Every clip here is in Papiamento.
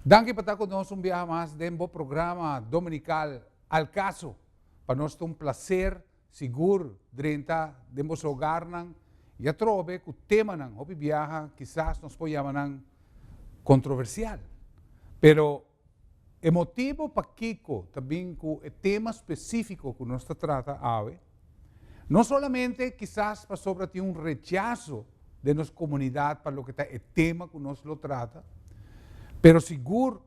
Danki pa ta ku nos un biaha mas den bo programa dominikal Al Caso. Pa nos ta un plaser sigur drenta den boso hogarnan i atrobe ku temanan hopi biaha kisas nos por yama nan kontroversial. Pero e motibu pakiko ta bin ku e tema spesífiko ku nos ta trata awe, No solamente kisas pasobra tin un rechaso den nos komunidat pa loke ta e tema ku nos lo trata, pero sigur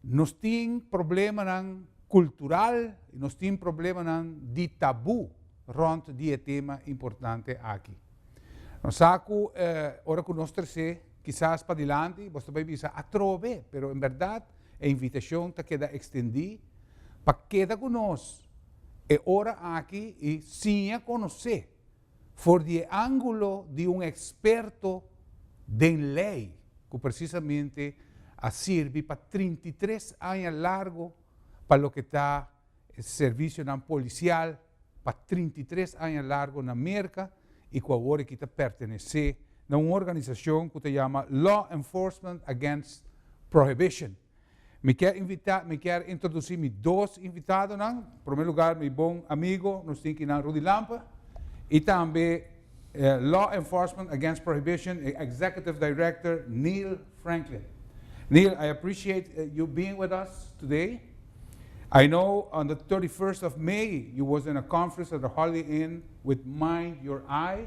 nos tin problemanan kultural i nos tin problemanan di tabú rònt di e tema importante aki. Nos sa ku ora ku nos tres'é kisas padilanti bos ta bai bisa atrobe, pero en bèrdat e invitashon ta keda ekstendí pa keda ku nos. E ora aki i siña konosé for di e ángulo di un eksperto den lei ku presisamente a sirbi pa trinta i tres aña largu pa loke ta servisionan polisial pa trinta i tres aña largu na Merka i ku awor e ta pertenesé na un organisashon ku ta yama Law Enforcement Against Prohibition. Mi kier invita, mi kier introduci mi dos invitadonan. Prome lugar mi bon amigo, nos tin aki nan Rudy Lampe y tambe Law Enforcement Against Prohibition e Executive Director Neil Franklin. Neil, I appreciate you being with us today. I know on the thirty first of May you was in a conference at the Holiday Inn with Mind Your Eye.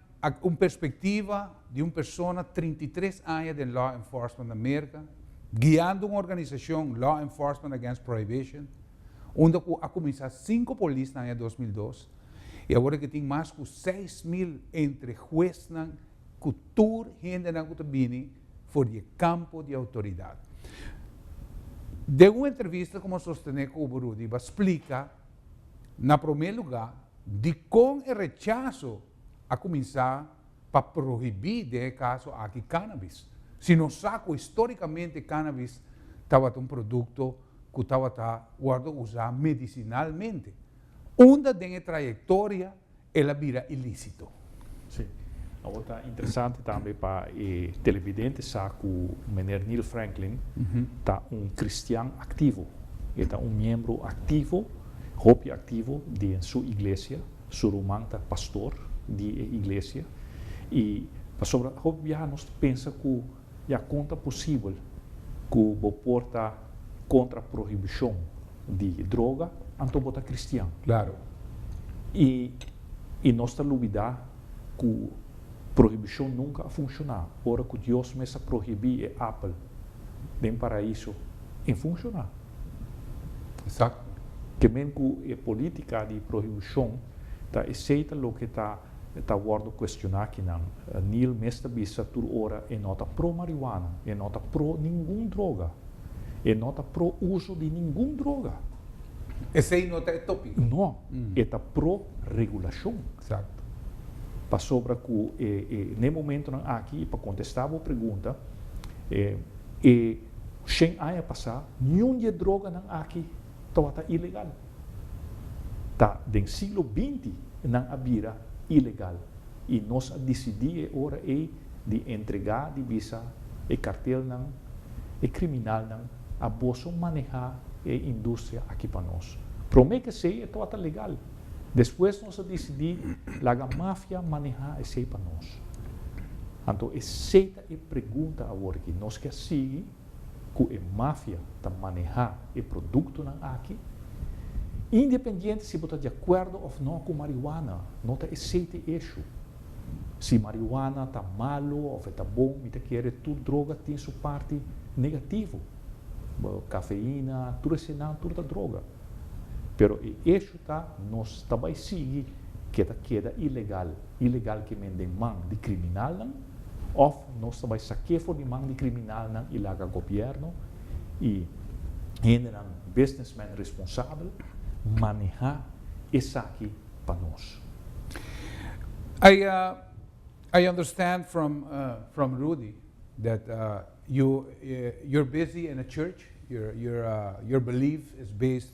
Ak un perspektiva di un persona trinta i tres aña den law enforcement na Merka, guiando un organisashon Law Enforcement Against Prohibition, unda ku a kuminsá sinku polis na aña dos mil dos i awor e ke tin mas ku seis mil entre huesnan ku tur hendenan ku ta bini for di e kampo di outoridat. Den un entrevista ku nos sostené ku bo Rudy bo a splika na promé lugá Dikon e rechaso a kuminsá pa prohibí den e kaso aki cannabis, si nos sa ku histórikamente cannabis tabata un produkto ku tabata wòrdu usá medisinalmente, unda den e trayektoria el a bira ilísito. Sí. Awor ta interesante tambe pa e televidente sa cu meneer Neil Franklin ta un cristian activo. E ta un miembro activo, hopi activo, den su iglesia. Su ruman ta pastor di e iglesia. Y pasobra hopi biaha nos ta pensa cu Ya kon ta posibel ku bo por ta kontra prohibishon di droga anto bo ta kristian? Klaru. I i nos ta lubidá ku prohibishon nunka a funshoná. Ora ku Dios mes a prohibí e apel den Paraiso, e funshoná. Exacto. Ke men ku e polítika di prohibishon ta esei ta loke ta. E ta wòrdu kuestioná kinan. Neal mes ta bisa tur ora e no ta pro marihuana, e no ta pro ningun droga, e no ta pro uso di ningun droga. Esei no ta e tópiko. No, e ta pro regulashon. Eksakto. Pasobra ku e n'e momentunan aki i pa kontestá bo pregunta, e shen aña pasá niun di e droganan aki. tabata ilegal. Ta den siglo binti nan a bira ilegal y nos a dicidi e ora ey di entrega di bisa e cartelnan, e criminalnan a boso maneha e industria aki pa nos. Prome kesey e tabata legal, despues nos a dicidi laga mafia maneha esey pa nos. Anto esey ta e pregunta awor aki, nos ke a sigui? ku e mafia ta manehá e produktonan aki. Independiente si bo ta di akuerdo òf nò ku marihuana, no ta esei ta e eshu. Si marihuana ta malu òf e ta bon, mi ta kere tur droga tin su parti negativo. Kafeina, tur esenan, tur ta droga. Pero e eshu ta nos ta bai sigui ke ta keda ilegal, ilegal ke men den man di kriminalnan. Of nos ta bai sa ke for di man di kriminalnan i laga gobièrnu i hendenan businessman responsabel manehá esaki pa nos. I I understand from from Rudy that you you're busy in a church, your your your belief is based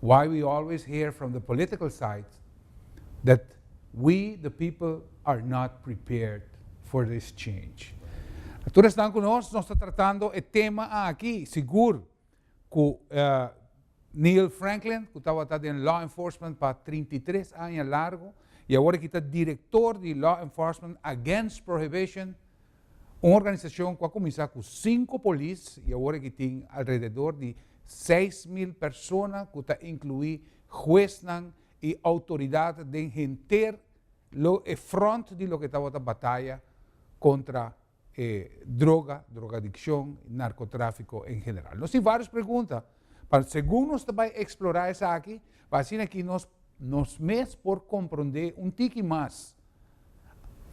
why we always hear from the political side that we the people are not prepared for this change. A tur esnan ku nos, nos ta tratando e tema aki, sigur ku Neil Franklin, ku tabata den law enforcement pa trinta i tres aña largu, i awor e kita direktor di Law Enforcement Against Prohibition, Un organisashon ku a kuminsá ku sinku polis i awor aki tin alrededor di seis mil persona ku ta inkluí huesnan i outoridat den henter lo e front di loke tabata bataya kontra e droga, drogadikshon, narkotráfiko en general. Nos tin vários pregunta, pa segun nos ta bai eksplorá esaki, pa asina ki nos nos mes por komprondé un tiki mas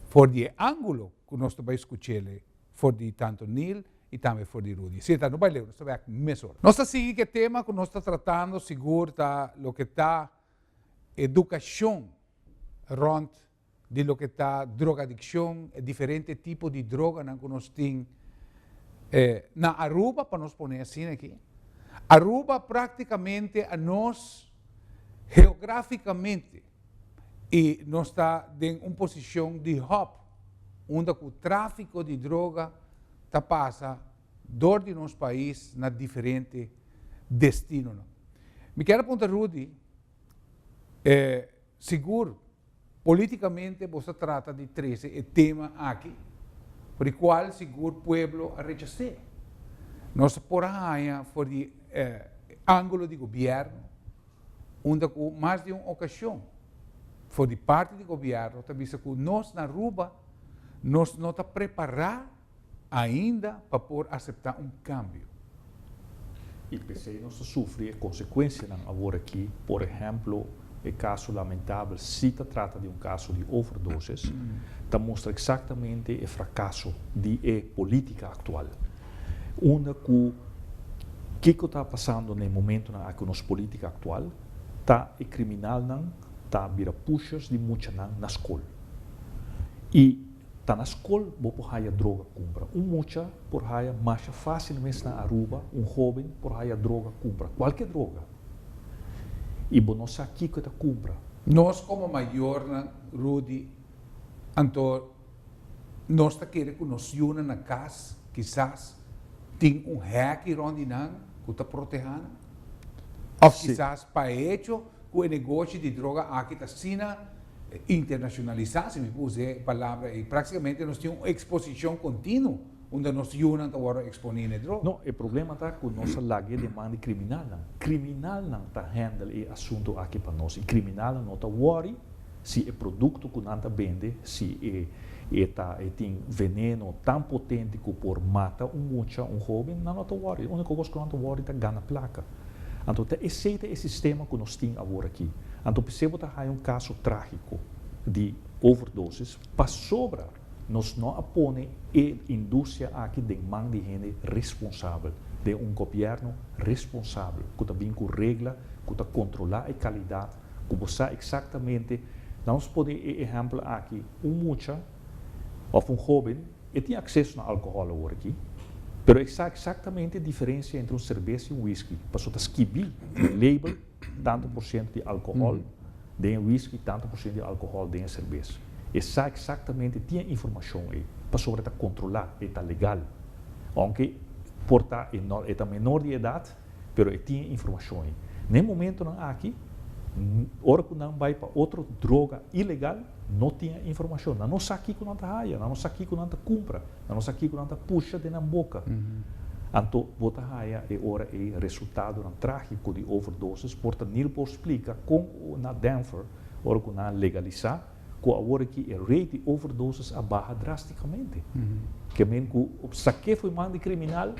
for di e ángulo ku nos ta bai skuch'é for di tantu Neal i tambe for di Rudy. Si e ta no bai leu, nos ta bai aki mesora. Nos ta sigui ku e tema ku nos ta tratando, sigur ta loke ta edukashon rònt di loke ta drogadiccion, e diferente tipo di droganan cu nos tin na Aruba, pa nos pone asina aki. Aruba practicamente a nos geograficamente y nos ta den un posicion di hub unda cu trafico di droga ta pasa door di nos pais na diferente destinonan. Mi ker a punta Rudy, Sigur, políticamente bos ta trata di trece e tema aki for di cual sigur pueblo a rechacé. Nos por a haña for di e angulo di gobierno unda cu mas di un ocasion for di parti di gobierno ta bisa cu nos na Aruba nos no ta prepará. Ainda pa por aseptá un kambio. I p'esei nos ta sufri e konsekuensianan awor aki, por ehèmpel e kaso lamentabel, si ta trata di un kaso di overdosis, ta mustra eksaktamente e frakaso di e polítika aktual. Unda ku kiko ta pasando na e momentunan aki ku nos polítika aktual ta e kriminalnan ta bira pushers di muchanan na skol i. Ta na skol bo por haya droga kumpra. Un mucha por haya masha fásil mes na Aruba, un hóben por haya droga kumpra, kualke droga, i bo no sa kiko e ta kumpra. Nos komo mayornan, Rudy, anto nos ta kere ku nos yunan na kas kisas tin un hèki rònt di nan ku ta protehánan? Òf kisas pa hecho ku e negoshi di droga aki ta asina? Internashonalisá, si mi por us'é palabra ei, práktikamente nos tin un eksposishon kontinu unda nos yunan ta wòrdu eksponí n'e droga. No, e problema ta ku nos a laga e deman di kriminalnan. Kriminalnan ta hèndel e asuntu aki pa nos i kriminalnan no ta wòri si e produkto ku nan ta bende si e ta e tin veneno tan potente ku por mata un mucha, un hóben, nan no ta wòri. E úniko kos ku nan ta wòri ta gana plaka. Anto ta esei ta e sistema ku nos tin awor aki. Anto p'esei bo ta haña un kaso trágiko di overdosis pasobra nos no a pone e industria aki den man di hende responsabel, den un gobièrnu responsabel ku ta bin ku regla ku ta kontrolá e kalidat ku bo sa eksaktamente, lamos pone e ehèmpel aki, un mucha. òf un hóben, e tin akseso na alkohòl awor aki, pero e sa eksaktamente e diferensia entre un serbes i un wiski, pasobra ta skibí den e label tantu por siento di alkohòl den e wiski, tantu por siento di alkohòl den e serbes. E sa eksaktamente, tin e informashon ei, pasobra e ta kontrolá, e ta legal. Ounke por ta e ta menor di edat. pero e tin e informashon ei. Na e momentonan aki, ora ku nan bai pa otro droga ilegal, no tin e informashon. Nan no sa kiko nan ta haya, nan no sa kiko nan ta kumpra, nan no sa kiko nan ta pusha den nan boka. Anto bo ta haya e ora ei resultadonan trágiko di overdosis, por ta nil por splika kon na Denver, ora ku nan a legalisá, ku awor aki e rate di overdosis a baha drástikamente. Ke men ku sa ke foi man di kriminal,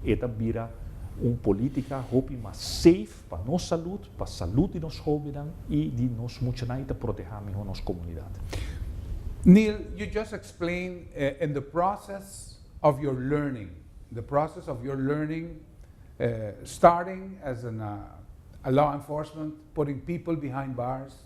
e ta bira un polítika hopi mas safe pa nos salud, pa salud di nos hóbennan i di nos muchanan i ta protehá mihó nos komunidat. Neil, you just explain in the process of your learning, the process of your learning starting as a law enforcement, putting people behind bars,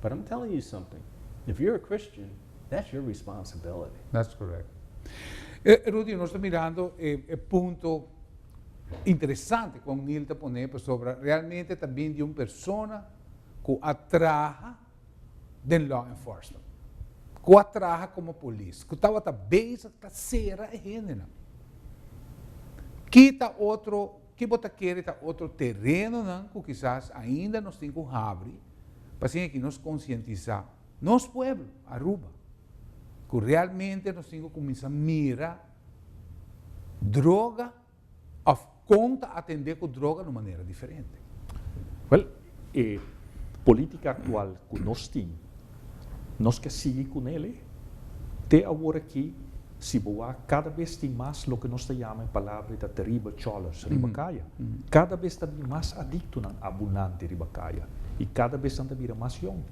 But I'm telling you something, if you're a Christian, that's your responsibility. That's correct. E, Rudy, nos ta mirando e, e punto interesante cu O'Neill ta pone pasobra realmente ta bin di un persona cu a traha den law enforcement, cu a traha como polis, cu tabata bezig ta cera e hendenan. Ki ta otro Ki bo ta kere ta otro terenonan ku kisas ainda nos tin ku habri pa hasin aki nos konsientisá nos pueblo Aruba ku realmente nos tin ku kuminsá mira droga òf kon ta atendé ku droga na un manera diferente? Wèl. E política actual cu nos tin, nos ke sigui cu nel e. Te aworaki, si bo wak, cada bes tin mas loke nos ta yama e palabra e ta terrible cholers riba caya. Cada bes ta bin mas adictonan abunante riba caya y cada bes nan ta bira mas yong.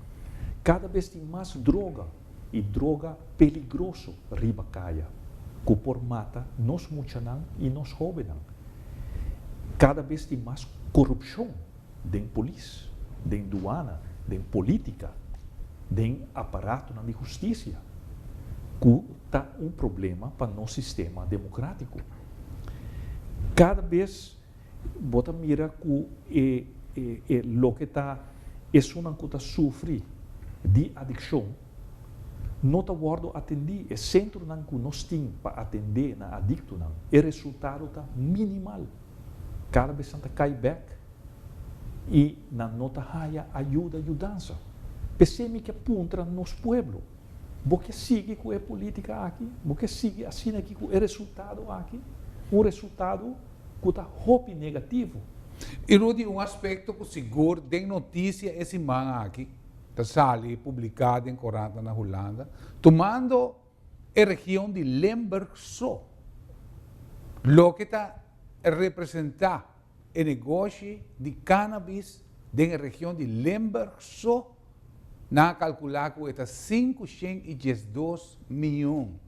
Cada bes tin mas droga y droga peligroso riba caya cu por mata nos muchanan y nos hobennan. Cada bes tin mas corupcion den polis, den duana, den politica, den aparatonan di husticia, cu ta un problema pa nos sistema democratico. Cada bes bo ta mira cu e e loke ta esunnan cu ta sufri di adiccion no ta wordo atendi, e centronan cu nos tin pa atende nan adictonan, e resultado ta minimal. Kada bes nan ta kai bek i nan no ta haya ayuda, yudansa. P'esei mi ke puntra nos pueblo, Bo ke sigui ku e politika aki? Bo ke sigui asina aki ku e resultado aki? Un resultado ku ta hopi negativo. I Rudy, un aspekto ku sigur den notisia e siman aki ta sali publiká den korantanan Hulanda, tumando. e region di Limburg so, loke ta representa e negoshi di cannabis den e region di Limburg so, nan a calcula cu e ta sinku shen y diesdos mion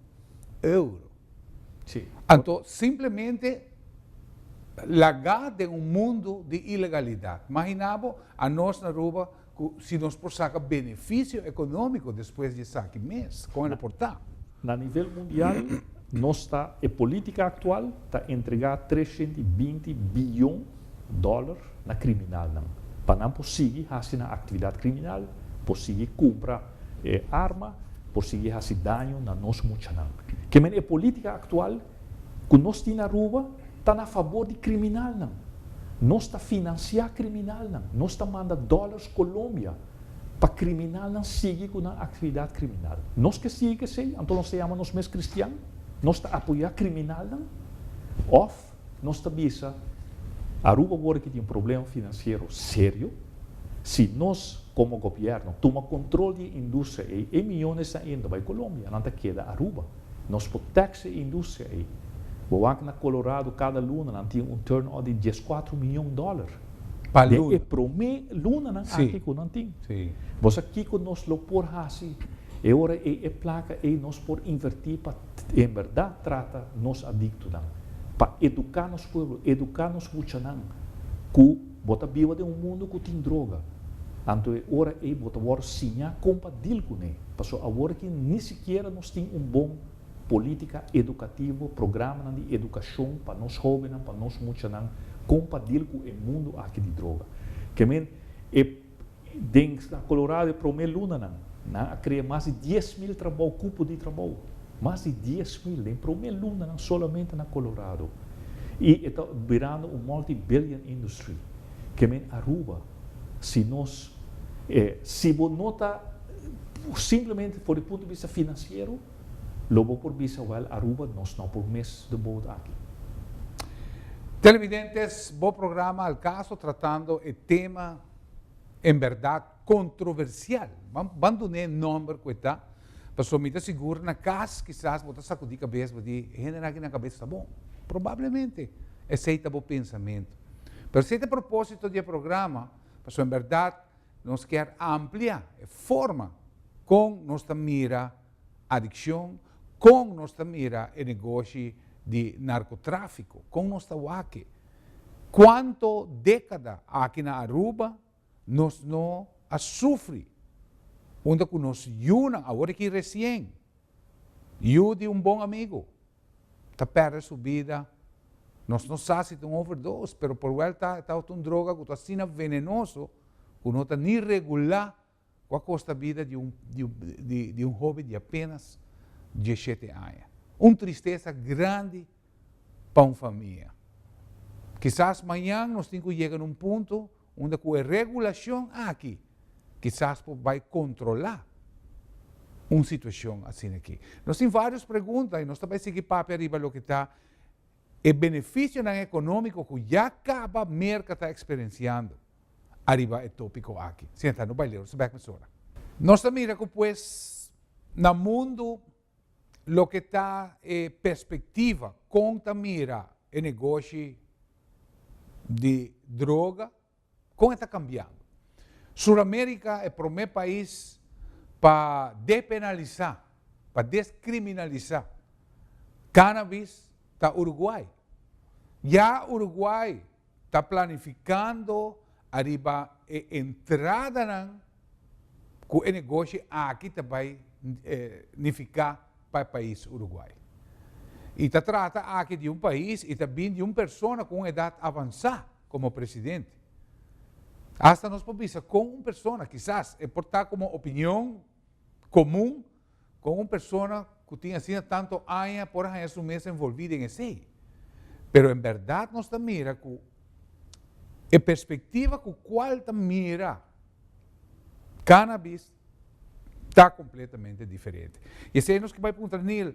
euro. Anto simplemente laga den un mundo di ilegalidad. Magina bo, anos na Aruba. cu si nos por saca beneficio economico despues di esaki mes, con lo por ta? Na nivel mundial nos ta, e politica actual ta entrega tres shent i binti billon dollar na criminalnan pa nan por sigui haci nan actividad criminal, por sigui cumpra arma, por sigui haci daño na nos muchanan. Kemey e politica actual ku nos tin Aruba ta na fabor di kriminalnan. Nos ta finansiá kriminalnan, nos ta manda dòlars Colombia pa kriminalnan sigui ku nan aktividat kriminal. Nos ke sigui k'esei? Anto nos ta yama nos mes kristian? Nos ta apoyá kriminalnan? Òf nos ta bisa, Aruba wòrdu e ke tin un problema finansiero serio. Si nos komo gobièrnu tuma kontrol di e industria ei, e miyonesnan ei no ta bai Colombia, nan ta keda Aruba. Nos por tax e industria ei. Bo wak na Colorado cada luna nan tin un turnout di dies cuatro miyon dollar. Den e prome lunanan aki cu nan tin. Bo sa kico nos lo por haci e ora ei e placa ei nos por inverti pa en berdad trata nos adictonan, pa educa nos pueblo, educa nos muchanan cu. Bo ta biba den un mundu ku tin droga. Anto e ora ei bo ta wòrdu siñá kon pa dil kuné. Pasó awor aki ni sikiera nos tin un bon polítika edukativo, programanan di edukashon pa nos hóbennan, pa nos muchanan kon pa dil ku e mundu aki di droga. Ke men e. Den Stad Colorado e promé lunanan nan a krea mas di dies mil trabou, kupo di trabou. Mas di dies mil den promé lunanan solamente na Colorado. I e ta birando un multibillion industry. Kemen Aruba, si nos e si bo no ta simplemente for di punto di bista financiero, Lo bo por bisa wèl Aruba nos no por mis the boat aki. Televidentes, bo programa al caso tratando e tema en berdad controversial. Ban ban dun'é nomber cu e ta, pasobra mi ta sigur na cas kisas bo ta sacudi cabes bo di, E hender aki nan cabes ta bon. Probablemente esei ta bo pensamentu. Pero esei ta propósito di e programa, pasobra en berdad, Nos kier amplia e forma kon nos ta mira adikshon, kon nos ta mira e negoshi di narkotrafiko, kon nos ta wak-e. Kuanto dekada aki na Aruba nos no a sufri unda ku nos yunan, awor aki resien, yu di un bon amigu, ta perde su bida, nos no sa si ta un overdoos, pero por wèlta e tabata un droga ku ta asina venenoso ku no ta ni regulá ku a kosta bida di un di un hobe di apenas dieshete aña. Un tristesa grandi pa un famia. Kisas mañan nos tin ku yega na un punto unda ku e regulashon aki kisas por bai kontrolá un situashon asina aki. Nos tin vários pregunta i nos ta bai sigui papia riba loke ta e benefisionan ekonómiko ku ya kaba Merka ta eksperensiando ariba e tópiko aki. Siña ta no bai leu, nos ta bèk mesora. Nos ta mira ku pues na mundu. Loke ta e perspectiva con ta mira e negoshi di droga? Con e ta cambiando? Suramerica e prome pais pa depenalisa, pa descriminalisa cannabis ta Uruguay. Ya Uruguay ta planifikando ariba e entradanan ku e negoshi aki ta bai nifiká pa e pais Uruguai. I ta trata aki di un pais i ta bin di un persona ku un edat avansá komo presidente. Hasta nos por bisa kon un persona, kisas e por ta komo opinion komun, Kon un persona ku tin asina tantu aña por a haña su mes envolví den esei? Pero en bèrdat nos ta mira ku e perspektiva ku kual ta mira kannabis ta kompletamente diferente. I esei nos ke bai puntra Neal.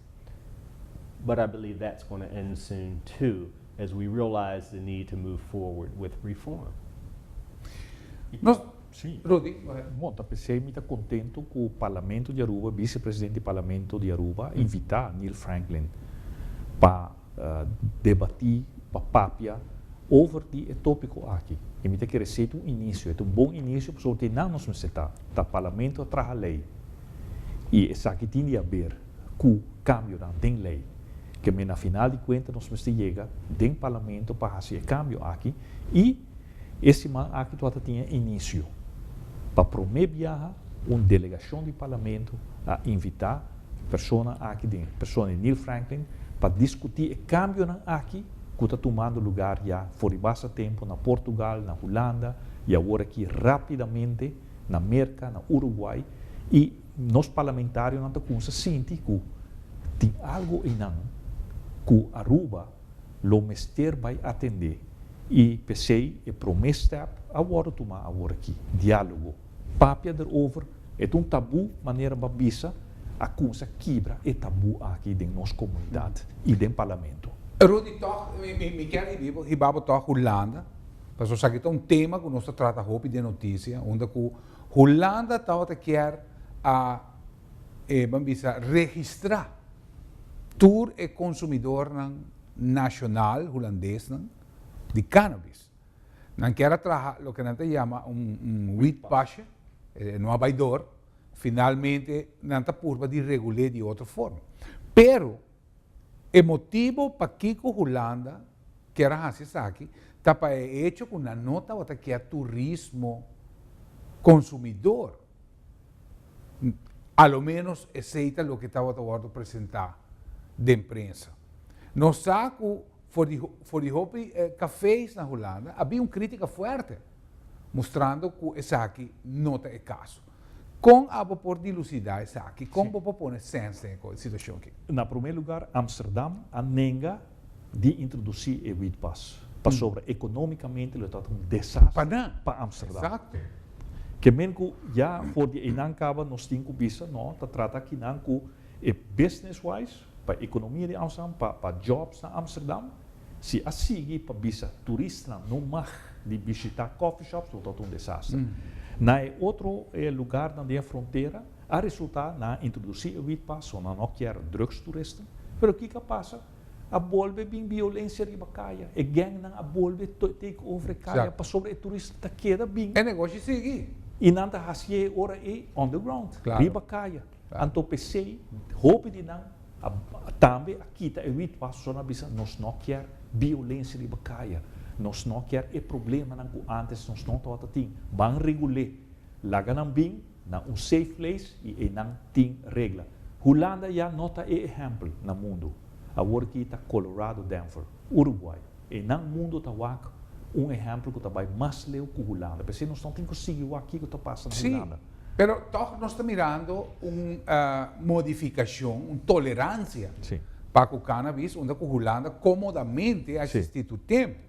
But I believe that's going to end soon too, as we realize the need to move forward with reform. Nos, sí. Rudy, go ahead. Bon, ta p'esei mi ta contento cu Parlamento di Aruba, Vice-President di Parlamento di Aruba, invita Neil Franklin pa. debatí, papapia over di e tópiko aki. I mi ta kere si et un inisio, et un bon inisio pasobra te nan nos mester ta, ta Parlamento a traha lei i esaki tin di haber ku kambionan den lei. Ke men a final di kuenta nos mester yega den Parlamento pa hasi e kambio aki i. E siman aki tua ta tin inisio. Pa promé biaha un delegashon di Parlamento a invitá persona aki den persona di Neil Franklin pa diskutí e kambionan aki ku ta tumando lugar ya for di basta tempu na Portugal, na Hulanda i awor aki rápidamente na Merka, na Uruguai i nos parlamentarionan ta kumsa sinti ku tin algu einan ku Aruba. Lo mester bay atende y pesey e prome step a wordo tuma awor aki, dialogo. Papia der over, e ta un tabu manera ba bisa, a cuminsa kibra e tabu aki den nos comunidad y den Parlamento. Rudy toch mi kier hibibo hibabo toch Hulanda pasobra esaki ta un tema cu nos ta trata hopi den noticia unda cu Hulanda tabata kier a E ban bisa registrá tur e konsumidornan nashonal hulandesnan di cannabis. Nan kier a traha loke nan ta yama un wietpasje, e no a bai dor, finalmente nan ta purba di regul'é di otro forma. Pero e motibo pakiko Hulanda kier a hasi esaki ta pa e hecho ku nan no tabata kier turismo konsumidor. A lo ménos esei ta loke tabata wòrdu presentá den prensa. Nos sa ku for di for di hopi kaféis na Hulanda a bin un krítika fuerte, mustrando ku esaki no ta e kaso. Kon abo por dilusidá esaki? Kon bo por pone sens den e situashon akí? Na promé lugar, Amsterdam a nenga di introduci e wietpas, pasobra economicamente lo ta un desastre pa Amsterdam. Kemen cu ya for di einan caba nos tin cu bisa no ta trata akinan cu e business-wise, pa e economia di Amsterdam, pa pa jobs na Amsterdam. Si a sigui pa bisa turistanan no mag di bishita coffee shops lo ta un desastre. Na e otro lugarnan den e frontera A resultá nan a introdusí e witpa so nan no kier drugstoeristen. Pero kiko a pasa? A bolbe bin biolensia riba kaya. E gangnan a bolbe take over e kaya pasobra e toerist ta keda bin. E negoshi sigui. I nan ta hasié e ora ei on the ground, riba kaya. Anto p'esei hopi di nan a tambe a kita e witpa so nan a bisa nos no kier biolensia riba kaya. Nos no kier e problemanan ku antes nos no tabata tin. Ban regul'é. Laga nan bin. Na un safe place y eynan tin regla. Hulanda ya no ta e ehempel na mundo. Awor ki ta Colorado Denver, Uruguay. Eynan mundo ta wak un ehempel cu ta bay mas leu cu Hulanda. P'esey nos no tin cu sigui wak kico ta pasa na Hulanda. Sí, pero toch nos ta mirando un modificacion, un tolerancia pa cu cannabis, unda cu Hulanda comodamente a existi tur tempo.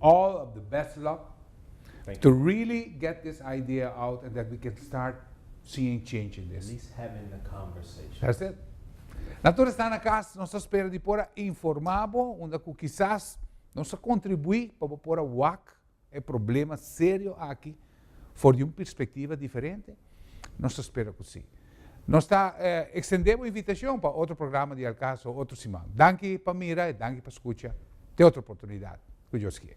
All of the best luck to really get this idea out and that we can start seeing change in this. At least having the conversation. That's it. Na tur esta na cas, nos ta spera di por a informa bo unda cu kisas nos a contribui pa bo por a wak e problema serio aki For di un perspectiva diferente? Nos ta spera cu si. Nos ta extende bo invitacion pa otro programa di El Caso otro siman. Danki pa mira y danki pa scucha. Te otro oportunidad, cu Dios kier.